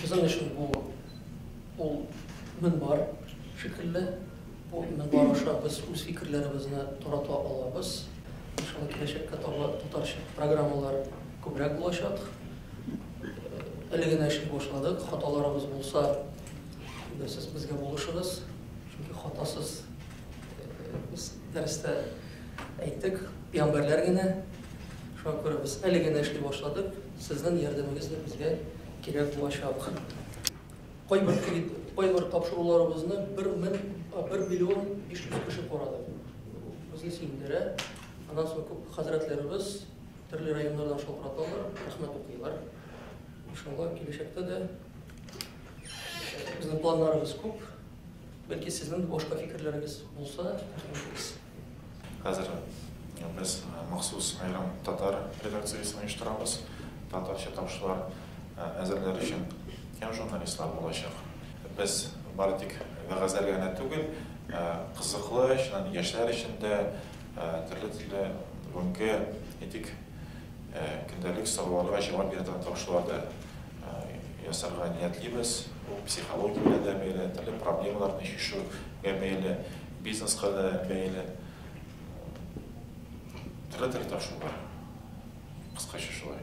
Безнең өчен бу ул мөнбар шикелле. Бу мөнбар аша без үз фикерләребезне тарата алабыз. Иншалла, киләчәккә таба татарча программалар күбрәк булачак. Әле генә эшли башладык. Хаталарыбыз булса, сез безгә булышыгыз. Чөнки хатасыз без дәрестә әйттек, пиамбәрләр генә. Шуңа күрә без әле генә эшли башладык. Сезнең ярдәмегез дә безгә кирәк булачак. Кайбер кредит, кайбер тапшыруларыбызны бер мең, а, бер миллион биш йөз кеше карады. Бу безне сөендерә. Аннан соң күп хәзрәтләребез төрле районнардан шалтыраталар, рәхмәт укыйлар. Иншалла, киләчәктә дә безнең планнарыбыз күп. Бәлки сезнең дә башка фикерләрегез булса, рәхмәт итегез. Хәзер без махсус аерым татар редакциясен оештырабыз, татарча тавышлар әзерләр өчен һәм журналистлар булачак. Без бары тик вәгазьләргә генә түгел, кызыклы, чыннан яшьләр өчен дә төрле-төрле бүгенге, әйтик, көндәлек сорауларга җавап бирә торган тавышлар да ясарга ниятлибез. Бу психологиягә дә бәйле, төрле проблемаларны чишүгә бәйле. Бизнеска да бәйле төрле-төрле тапшырулар. Кыскача шулай.